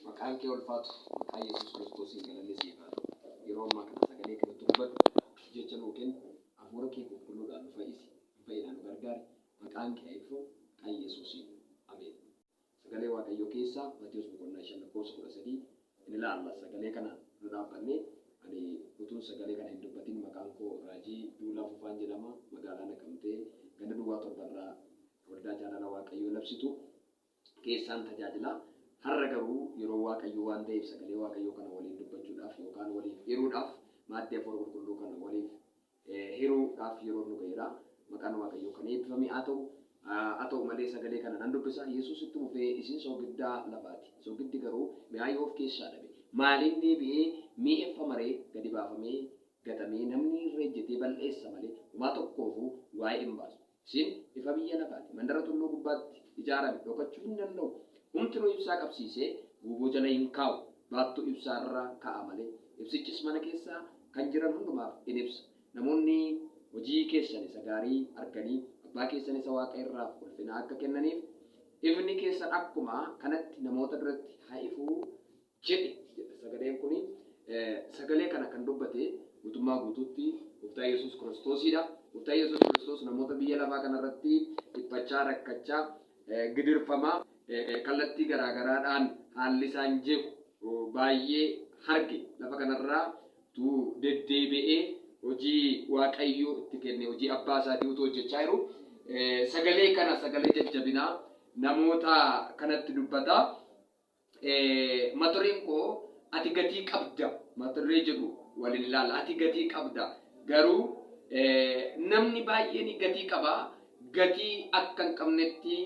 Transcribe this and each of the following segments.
Maqaan kee ulfaatu maqaa Yesuus Kiristoosiin galanni siif haa ta'u. Yeroo ammaa kana sagalee kanatti dubbadhu, jecha nuu kenni, hafuura kee qulqulluudhaan nu fayyisi, nu fayyinaa nu gargaari. Maqaan kee haa eebbifamu maqaa Yesuusiin. Ameen. Sagalee Waaqayyoo keessaa Maatewos boqonnaa 5 lakkoofsa 13 in ilaalla. Sagalee kana dura dhaabbannee ani utuun sagalee kana hin dubbatin maqaan koo Raajii Duulaa Fufaan jedhama. Magaalaa Naqamtee ganda duwwaa torbarraa Waldaa jaalala Waaqayyoo labsitu keessaan tajaajila. Har'a garuu yeroo Waaqayyoo waan ta'eef sagalee Waaqayyoo kana waliin dubbachuudhaaf yookaan waliif hiruudhaaf maaddii Hafuura Qulqulluu kana waliif hiruu dhaaf yeroon nu ga'eera. Maqaan Waaqayyoo kan eebbifame haa ta'u. Haa ta'u malee sagalee kana nan dubbisa. Yesuus itti fufee isin soogiddaa lafaati. Soogiddi garuu mi'aa yoo of keessaa dhabe maaliin deebi'ee mi'eeffama ree? Gadi baafamee gatamee namni irra ejjetee bal'eessa malee homaa tokkoofuu waa'ee hin baasu. Isin ifa biyya lafaati. Mandara tulluu gubbaatti ijaarame dhokachuu hin danda'u. Homtinuu ibsaa qabsiisee guuboo jala hin kaa'u. Baattuu ibsaa irra kaa'a malee. Ibsichis mana keessa kan jiran hundumaaf in ibsa. Namoonni hojii keessan isa gaarii arganii Abbaa keessan isa waaqa irraaf ulfina akka kennaniif, ifni keessan akkuma kanatti namoota duratti haa ifu. jedhe jedha sagaleen kun. Sagalee kana kan dubbate guutummaa guutuutti Gooftaa Yesuus Kiristoosidha. Gooftaa Yesuus Kiristoos namoota biyya lafaa kanarratti dhiphachaa, rakkachaa, gidirfamaa, kallattii garaagaraadhaan haalli isaan jeequ baay'ee harge lafa kanarraa utuu deddeebi'ee hojii Waaqayyoo itti kenne hojii abbaa isaatii utuu hojjechaa jiru sagalee kana sagalee jajjabinaa namoota kanatti dubbata. Matureen koo ati gatii qabda maturee jedhu walin ilaala ati gatii qabda garuu namni baay'een gatii qaba gatii akka hin qabnetti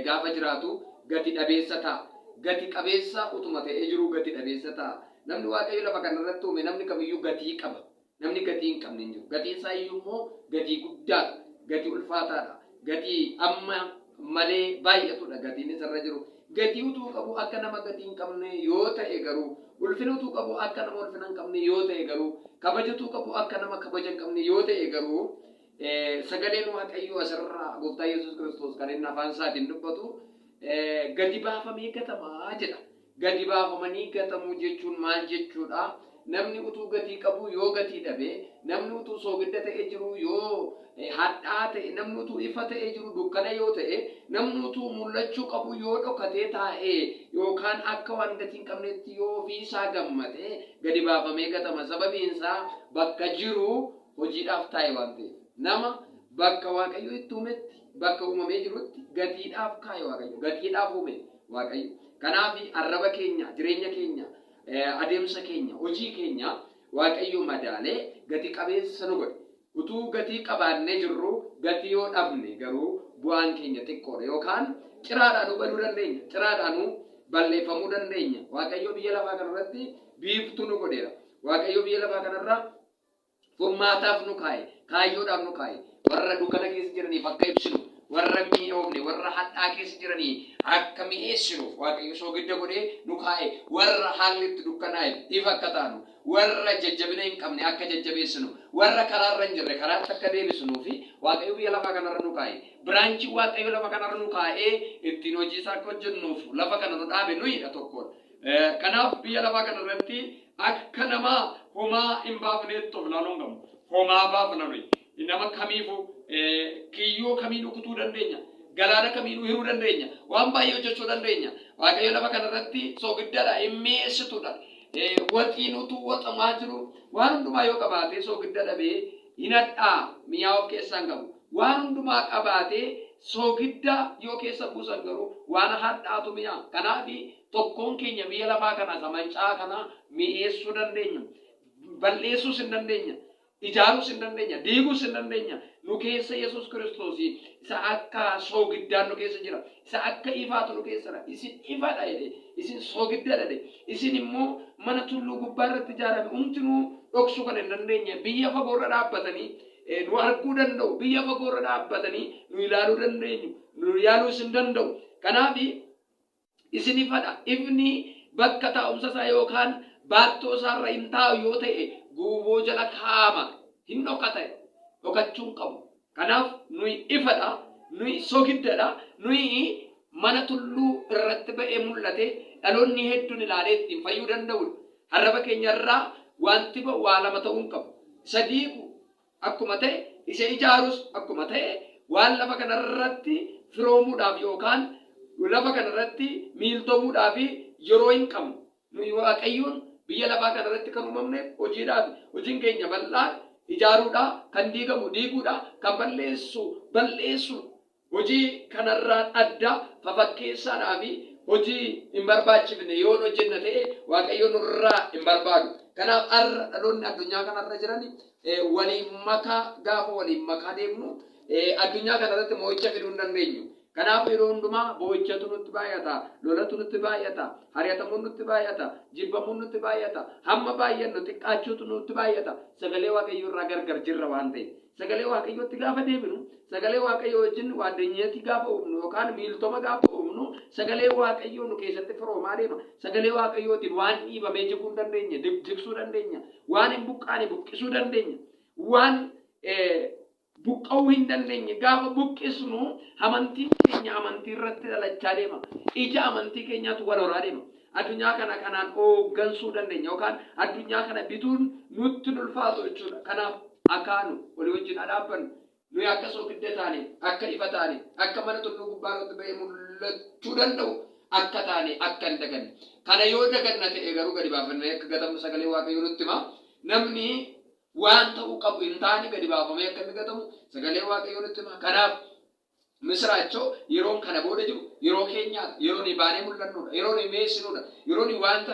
gaafa jiraatu gati dhabeessa ta'a gati qabeessa utuma ta'ee jiruu gati dhabeessa ta'a namni waaqayyo lafa kanarratti uume namni kamiyyuu gatii qaba Namni gatii hin qabne hin jiru. Gatiin isaa iyyuu immoo gatii guddaa dha. Gatii ulfaataa dha. Gatii amma malee baay'atu dha gatiin isa irra jiru. Gatii utuu qabuu akka nama gatii hin qabne yoo ta'e garuu, ulfina utuu qabuu akka nama ulfina hin qabne yoo ta'e garuu, kabaja utuu qabuu akka nama kabaja hin qabne yoo ta'e garuu, sagaleen Waaqayyoo as irraa Gooftaa Yesuus Kiristoos kan inni afaan isaatiin dubbatu, gati baafamee gatama jedha. Gadi baafamanii gatamuu jechuun maal jechuudha? Namni utuu gatii qabuu yoo gatii dhabe, namni utuu soogidda ta'ee jiruu yoo hadhaa'aa ta'e, namni utuu ifa ta'ee jiruu dukkana yoo ta'e, namni utuu mul'achuu qabuu yoo dhokatee taa'e yookaan akka waan gatii hin qabneetti yoo ofii isaa gammade gadi baafamee gatama. Sababiin isaa bakka jiru hojiidhaaf taa'e waan ta'eef. Nama bakka Waaqayyo itti uumetti, bakka uumamee jirutti gatiidhaaf kaa'e Waaqayyo. Gatiidhaaf uume. Waaqayyo. Kanaafi arraba keenya, jireenya keenya, adeemsa keenya, hojii keenya Waaqayyo madaalee gati qabeessa isa nu godhe. Utuu gatii qabaannee jirruu gatii yoo dhabne garuu bu'aan keenya xiqqoodha yookaan ciraadhaanuu baduu dandeenya, ciraadhaanuu balleeffamuu dandeenya. Waaqayyo biyya lafaa kanarratti biiftuu nu godheera. Waaqayyo biyya lafaa kanarra Furmaataaf nu kaa'e, kaayyoodhaaf nu kaa'e, warra dukana keessa jiraniif akka ibsinu, warra hin mi'oofne, warra hadhaa keessa jiranii akka mi'eessinuuf Waaqayyo soogidda godhee nu kaa'e, warra haalli itti dukkanaa'eef ifa akka taanu, warra jajjabina hin qabne akka jajjabeessinu, warra karaa irra hin jirre karaatti akka deebisnuufi Waaqayyo biyya lafaa kana irra nu kaa'e. Biraanchiin Waaqayyo lafa kana irra nu kaa'ee ittiin hojii isaa akka hojjennuuf lafa kana nu dhaabe nuyi dha, tokkoon. Kanaaf biyya lafaa kana irratti akka nama homaa hin baafneetti of ilaaluu hin qabnu. Homaa baafna nuyi. Nama kamiifuu kiyyoo kamiinuu kutuu dandeenya. Galaana kamiinuu hiruu dandeenya. Waan baay'ee hojjechuu dandeenya. Waaqayyo lafa kana irratti soogiddadha, hin mi'eessitudha. Waxiin utuu waxamaa jiru waan hundumaa yoo qabaate soogidda dhabee hin hadhaa mi'aa of keessaa hin qabu. Waan hundumaa qabaatee soogidda yoo keessa buusan garuu waan hadhaatu mi'a. Kanaafi, tokkoon keenya biyya lafaa kana isa manca'aa kana mi'eessuu dandeenya. Bal'eessuus in dandeenya. Ijaaruus in dandeenya. Diiguus in dandeenya. Nu keessa Yesus Kiristoos isa akka soogiddaan nu keessa jira. isa akka ifaa tolu keessa dha, isin ifa dha jedhe, isin soogidda dha jedhe, isin immoo mana tulluu gubbaa irratti ijaarame hundinuu dhoksuu kan hin dandeenye, biyya fagoo irra dhaabbatanii eh, nu arguu danda'u, biyya fagoo irra dhaabbatanii nu ilaaluu dandeenyu, nu ilaaluus hin danda'u. Kanaaf isin ifa dha, ifni bakka taa'umsa isaa yookaan baattoo isaa irra hin taa'u yoo ta'e guuboo jala kaa'ama, hin dhokata, dhokachuu hin qabu. Kanaaf nuyi ifa dha, nuyi sogidda dha, nuyi mana tulluu irratti ba'ee mul'ate dhaloonni hedduun ilaalee ittiin fayyuu danda'u dha. Arraba keenya irraa wanti ba'u waa lama ta'uu hin qabu. Isa diigu akkuma ta'e, isa ijaarus akkuma ta'e, waan lafa kana irratti firoomuudhaaf yookaan lafa kana irratti miiltomuudhaaf yeroo hin qabnu. Nuyi Waaqayyoon biyya lafaa kana irratti kan uumamneef hojiidhaafi. Hojiin keenya bal'aan ijaaruudha, kan diigamu diiguudha, kan balleessu balleessuudha. Hojii kanarraan adda, fafakkeessaadhaafi hojii hin barbaachifne yoon hojjenna ta'e Waaqayyo nurraa hin barbaadu. Kanaaf har'a dhaloonni addunyaa kanarra jiran waliin makaa gaafa waliin makaa deemnu addunyaa kanarratti mo'icha fiduu hin dandeenyu. Kanaafuu yeroo hundumaa boo'ichatu nutti baay'ata, lolatu nutti baay'ata, hari'atamuun nutti baay'ata, jibbamuun nutti baay'ata, hamma baay'annu xiqqaachuutu nutti baay'ata, sagalee Waaqayyoo irraa gargar jirra waan ta'eef. Sagalee Waaqayyootti gaafa deebinu, sagalee Waaqayyoo wajjin waaddanyati gaafa uumnu yookaan miiltoma gaafa uumnu, sagalee Waaqayyoo nu keessatti firoomaa deema. Sagalee Waaqayyootiin waan dhiibamee jiguu hin dandeenye jigsuu dandeenya, waan hin buqqaane buqqisuu dandeenya, waan buqqa'uu hin dandeenye. Gaafa buqqisnu amantiin keenya amantii irratti dhalachaa deema. Ija amantii keenyaatu wal horaa deema. Addunyaa kana kanaan hooggansuu dandeenya yookaan addunyaa kana bituun nutti hin ulfaatu jechuudha. Kanaaf akaanu olii wajjin haa dhaabbannu. Nuyi akka soogidda taane, akka ifa taane, akka mana tulluu gubbaa irratti ba'ee mul'achuu danda'u akka taane akka hin daganne. Kana yoo daganna ta'e garuu gadi baafamnee akka gatamnu sagalee Waaqayyoo nutti hima. Namni Waan ta'uu qabu hin taane gadi baafamee akka inni gatamu sagaleen Waaqayyoo nutti hima. Kanaaf misiraachoo yeroon kana booda jiru yeroo keenyaa dha. Yeroo nuyi baanee mul'annuu dha. Yeroo nuyi mi'eessinuu dha. Yeroo nuyi wanta